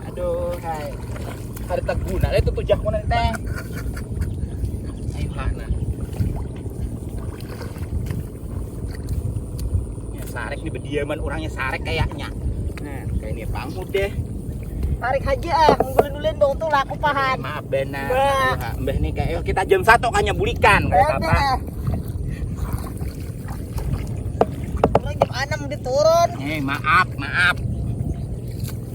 Aduh, hai. Kada terguna lah itu tujak mana teh. Ayuhan nah. Ya, sarek ini berdiaman orangnya sarek kayaknya. Nah, kayak ini bang deh. Tarik aja ah, ngumpulin dong tuh laku pahan. Maaf benar. Nah. Nah, mbah nih kayak kita jam satu kayaknya bulikan kayak apa. Orang jam enam diturun. Eh, maaf, maaf.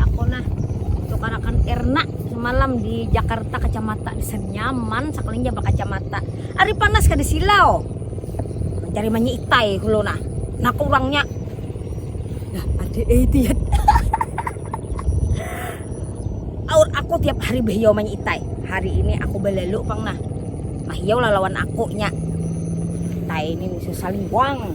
aku nah tukarakan erna semalam di Jakarta kacamata senyaman sekalinya berkacamata hari panas ke di silau mencari manya itai kulo nah nah kurangnya nah ada idiot aur aku tiap hari behiyau manya itai hari ini aku belalu pang nah mahiyau lah lawan aku nya itai ini saling wang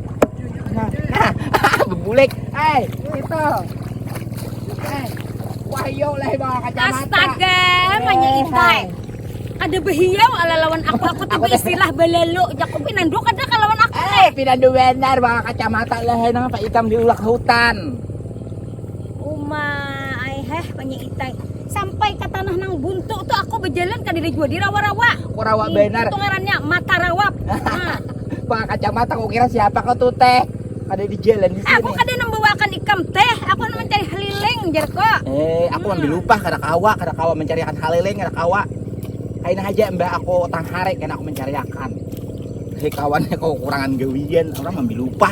Bebulek. Eh, itu. Eh, wahyo lah bawa kacamata. Astaga, manya eh, itai. Eh. Ada behiau ala lawan aku aku tuh istilah belelo jaku pinandu kada kalawan aku. Eh, pinandu benar bawa kacamata lah nang apa itam diulak hutan. Uma, ai heh manya itai. Sampai ka tanah nang buntu tu aku bajalan kadada jua dirawa-rawa. Aku rawa Ih, banar. Itu ngarannya mata rawap. Nah. Pakai kacamata aku kira siapa kau tuh teh. Kada di jalan di sini. Aku kada nambawakan ikam teh. Aku kada mencari haliling jar ko. Eh, aku hmm. ambil lupa kada kawa, kada kawa mencariakan haliling, kada kawa. Kain aja mbak aku tang hari kena aku mencariakan. Hei kawannya kau kurangan gawian, orang ambil lupa.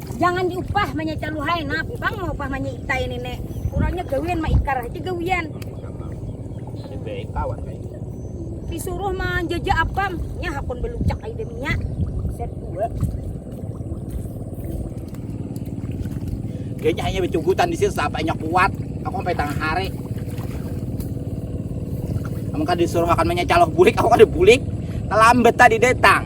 Jangan diupah manya caluhai, napang mau upah manya ita ini nek. Kurangnya gawian ma ikar aja gawian. Disuruh manjajah apam, nya hakun belucak aja deminya. Set dua. Kayaknya hanya becugutan di sini sapanya kuat. Aku sampai tengah hari. Kamu kan disuruh makan menya calok bulik, aku kan bulik. Kelambat tadi datang.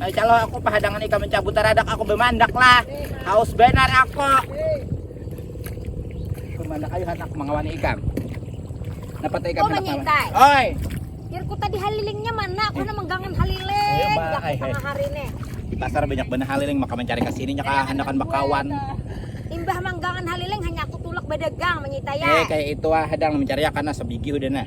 Nah, calo aku pahadangan ikam mencabut taradak aku bemandak lah. Haus benar aku. Bemandak ayo hatak mengawani ikam. Dapat ikam oh, mengintai. Oi. Irku tadi halilingnya mana? Aku eh. menggangan haliling. Ayo, eh, eh. hari ini. Di pasar banyak benar haliling maka mencari ke sini nyaka handakan bakawan. Imbah manggangan haliling hanya aku tulak bedagang menyitaya. Eh kayak itu ah hadang mencari ya karena sebigi udah nah.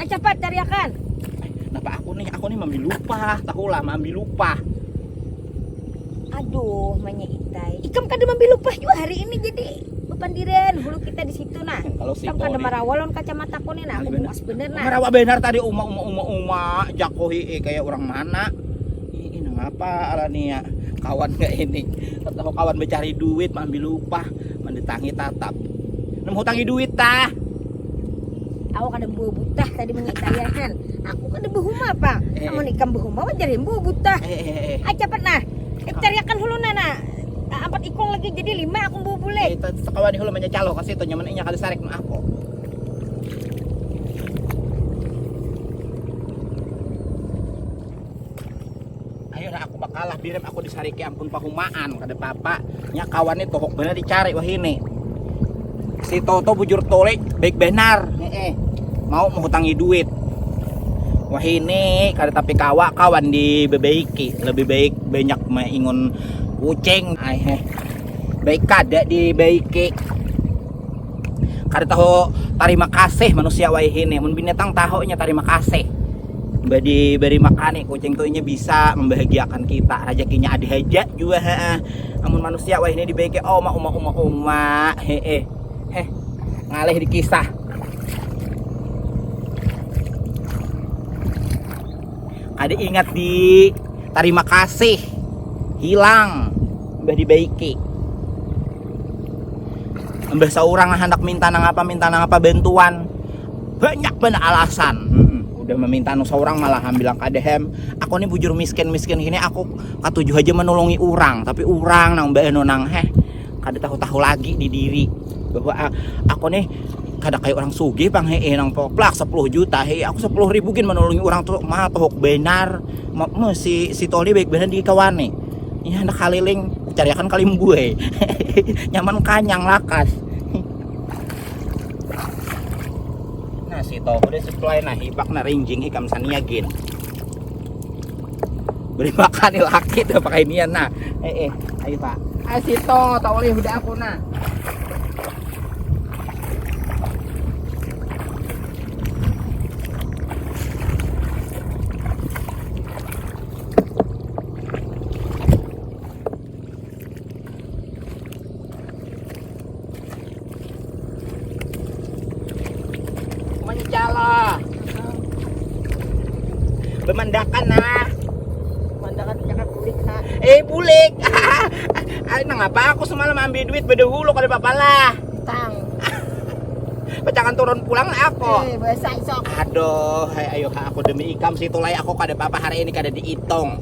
Ayo cepat cariakan. Kenapa aku nih? Aku nih mambi lupa. Tahu lah mambi lupa. Aduh, manya itai. Ikam kada mambi lupa juga hari ini jadi pandiran hulu kita di situ nah. Kalau si Tam kada marawalon kacamata aku nih nah. Aku bukas bener nah. Marawa benar tadi uma uma uma uma jakohi eh, kayak orang mana. Ini ngapa ala nih ya? Kawan kayak ini. Tahu kawan mencari duit mambi lupa, mendatangi tatap. Nemu hutangi duit tah. Awak ada buah butah tadi meni saya kan. Aku kada behuma apa. Eh. Amun ikam behuma wajar yang buah butah. Eh, eh, eh. Ah cepat nah. Eh, cariakan hulu nah nah. Ah, Empat ikung lagi jadi lima aku buah bule. Eh, itu kawan hulu banyak calo kasih itu nyaman inya kali sarik nah aku. ayo dah aku bakalah birim aku disariki ampun pahumaan kada papa nya kawan itu kok benar dicari wah ini si Toto bujur tolik baik benar eh mau menghutangi duit wah ini kada tapi kawa kawan di bebeiki lebih baik banyak mengingun kucing eh baik kada di beiki kada tahu terima kasih manusia wayahini mun binatang tahunya terima kasih badi beri makani kucing tu inya bisa membahagiakan kita rezekinya ada haja jua heeh amun manusia wayahini dibaiki oma uma uma uma heeh heh ngalih dikisah kada ingat di terima kasih hilang mbah dibaiki mbah seorang hendak minta nang apa minta nang apa bantuan banyak banget alasan hmm, udah meminta nang seorang malah bilang kadehem aku ini bujur miskin miskin ini aku katujuh aja menolongi orang tapi orang nang mbak eno nang heh kada tahu-tahu lagi di diri bahwa ah, aku nih kada kayak orang sugih pang hee nang poplak 10 juta hee aku 10 ribu gin menolongi orang tuh mah tohok benar ma, ma, si si Toli baik benar di kawan nih ini hendak kaliling cariakan kalim gue nyaman kanyang lakas nah si Toli udah supply nah hipak na rinjing ikam sania gin beri makan nih laki tuh pakai nian nah eh eh ayo pak ayo sito tak boleh udah aku nah bemandakan nah bemandakan cakap bulik nah eh bulik ay nang apa aku semalam ambil duit beda hulu kalau bapak lah tang pecangan turun pulang aku eh, besok aduh ayo aku demi ikam situ lah aku kada apa-apa hari ini kada dihitung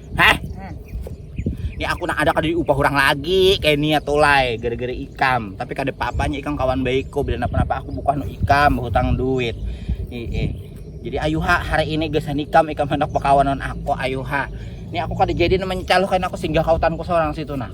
heh ini aku nak ada kada diupah orang lagi kayak ini atau ya, lay gara-gara ikam tapi kada apa-apanya ikam kawan baikku bila apa-apa aku bukan ikam hutang duit Ih, eh. jadi ayuha hari ini gesan ikam ikam hendak berkawanan aku ayuha ini aku kada jadi mencalurkan aku singgah kautanku seorang situ nah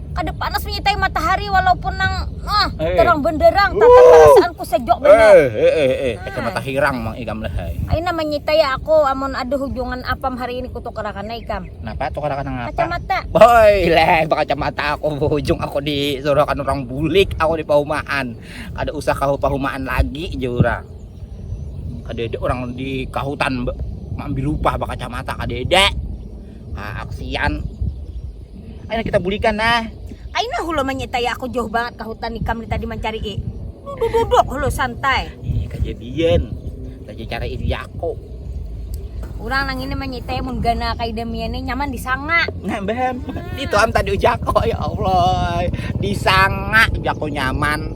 kada panas menyitai matahari walaupun nang ah, eh. terang benderang tata perasaanku sejok eh, benar eh eh eh eh itu ah. mata hirang mang ikam lehai aina menyitai aku amun ada hubungan apam hari ini kutukarakan ikam napa tukarakan nang apa kacamata boy leh kacamata aku hujung aku disuruhkan orang bulik aku di paumaan kada usah kau paumaan lagi jurang kada ada orang di kahutan ambil lupa kacamata kada ada ah aku sian ayo kita bulikan nah Aina hulu menyita ya aku jauh banget ke hutan ikam ni tadi mencari i. Duduk-duduk hulu santai. Ih, kejadian. Tadi cara ini ya aku. Orang nang ini menyita ya mun gana kayak demian nyaman disanga. Nah, bam. Hmm. Itu am tadi ujako ya Allah. Disanga jako nyaman.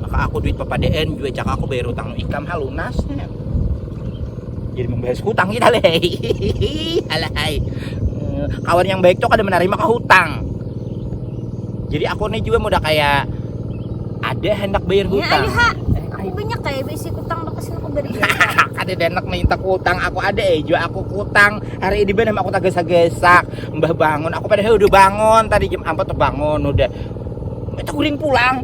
maka aku duit papadaan jua cak aku bayar utang ikam ha lunas ya. jadi membayar hutang kita leh alahai eh, kawan yang baik tuh kada menerima ke hutang jadi aku nih juga udah kayak ada hendak bayar ya, hutang ya, aku banyak kayak bisi hutang bakas aku beri ada denek minta hutang aku ada eh juga aku hutang hari ini benar aku tak gesak-gesak mbah bangun aku padahal udah bangun tadi jam 4 tuh bangun udah Kita guring pulang.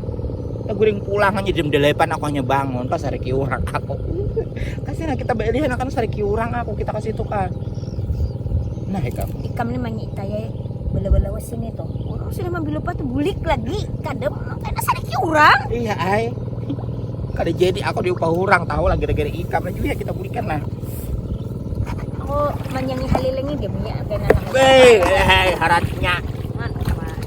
Kita guring pulang hanya jam delapan aku hanya bangun pas hari kiurang aku. Kasih nah kita beli anak kan hari kiurang aku kita kasih itu kan. Nah ikam. Ikam ini manyi taya bela-bela sini tuh. Orang sudah mambil lupa tuh bulik lagi kadem karena hari kiurang. Iya ay. Kada jadi aku diupah orang tahu lagi gara-gara ikam lagi ya kita bulikan lah aku menyanyi halilingi dia punya apa yang anak. Hei, hei, haratnya.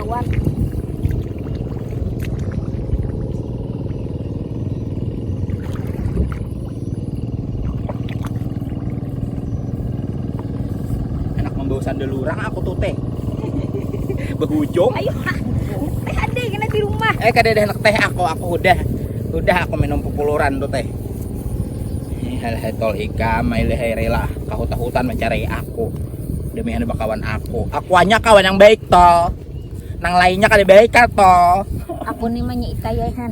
kawan. Anak membawa sandal lurang aku tuh teh. Berhujung. Ayo, teh ada kena di rumah. Eh kada ada anak teh aku, aku udah udah aku minum pupuluran tuh teh. Hal-hal tol hikam, hal-hal rela, kahutan-hutan mencari aku. demi anu bakawan aku aku hanya kawan yang baik toh nang lainnya kali baik kan toh aku nih manya itaya kan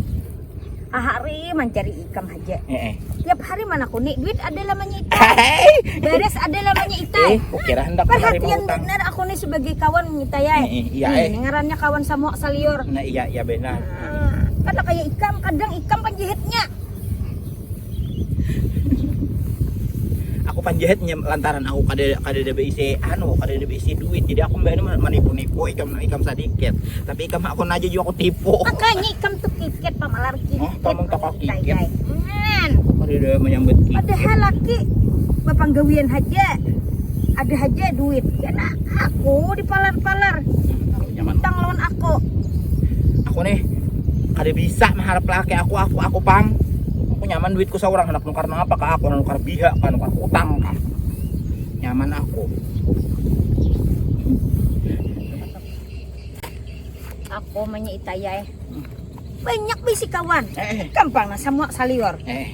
hari mencari ikam aja eh, eh. tiap hari mana aku nih duit ada lamanya itu beres ada lamanya itu eh, kira hendak perhatian benar aku nih sebagai kawan itaya eh, eh, iya eh. ngarannya kawan sama salior nah iya iya benar ah, kan kayak ikam kadang ikam penjahitnya aku panjahit lantaran aku kada kada ada beisi anu kada ada beisi duit jadi aku mbak ini menipu-nipu ikam ikam sedikit tapi ikam aku aja juga aku tipu makanya ikam tuh kiket pamalar kiket oh, kamu tak kau kiket kada ada menyambut kiket padahal laki bapanggawian haja ada haja duit karena aku dipalar-palar hmm, utang lawan aku aku nih kada bisa maharap laki aku aku aku pang aku nyaman duitku seorang anak nukar apa kah aku nukar biha kah nukar utang kah nyaman aku aku menyitai ya eh. banyak bisi kawan eh. gampang nah semua salior eh.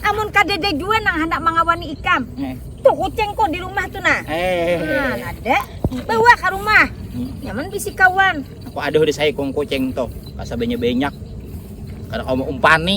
Amun kadada jua nang handak mangawani ikam. Eh. Tuh kucing kok di rumah tuh nah. Eh. Nah, ada. Bawa ke rumah. Hmm. Nyaman bisi kawan. Aku aduh di saya kong kucing tuh. Masa banyak-banyak. Karena kamu umpani.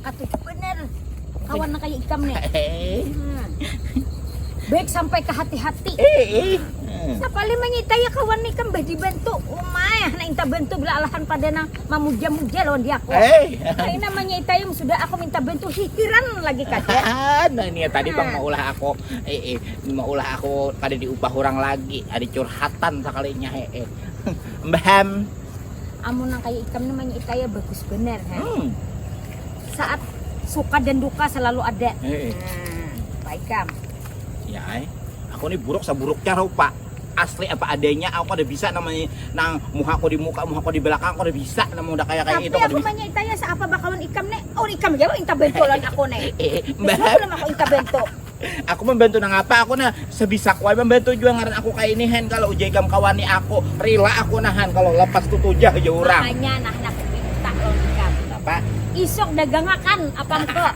Katuju bener kawan nang kayak ikam nih. Hmm. Baik sampai ke hati-hati. Eh, eh. Sapali mangita ya kawan nih kan badi bantu. Umay, oh, anak inta bantu bila alahan pada nang mamuja-muja lawan dia aku. Eh. Kayak namanya ita yang sudah aku minta bantu hikiran lagi kaca. nah ini ya tadi bang mau ulah aku, eh, eh, mau ulah aku pada diubah orang lagi. Ada curhatan sekalinya, eh, eh. Mbah amun nang kaya ikam nih manya ikaya bagus bener ha. Hmm. Saat suka dan duka selalu ada. Eh, eh. Nah, Pak Ikam. Ya, eh. aku nih buruk seburuknya rupa. Asli apa adanya, aku udah bisa namanya nang muka aku di muka, muka aku di belakang, aku udah bisa namun udah kayak kayak Tapi itu. aku manya itaya seapa bakalan ikam nih, oh ikam ya inta bentolan aku nih. Eh, eh, mbak. Belum aku inta bentok. Aku mambantu nangapa aku nah sebisaku ai mambantu jua ngaran aku kaya ini hen kalo ujar ikam kawani aku rila aku nah han kalo lepas tutujah ujar urang. Makanya nah handak kupinta lawan ikam. Napa? Isuk dagangakan apam ko.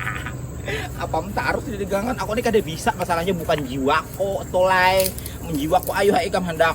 Apam tarus didagangakan aku ni kada bisa masalahnya bukan jiwaku tu lai, mun jiwaku ayuha ikam handak.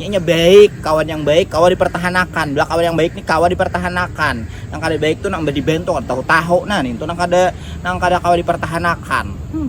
Nyanya baik, kawan yang baik kawa dipertahanakan. Belah kawan yang baik ni kawa dipertahanakan. Nang kada baik tu nang badi bentuk tahu-tahu nah nintu nang kada nang kada kawa dipertahanakan. Hmm.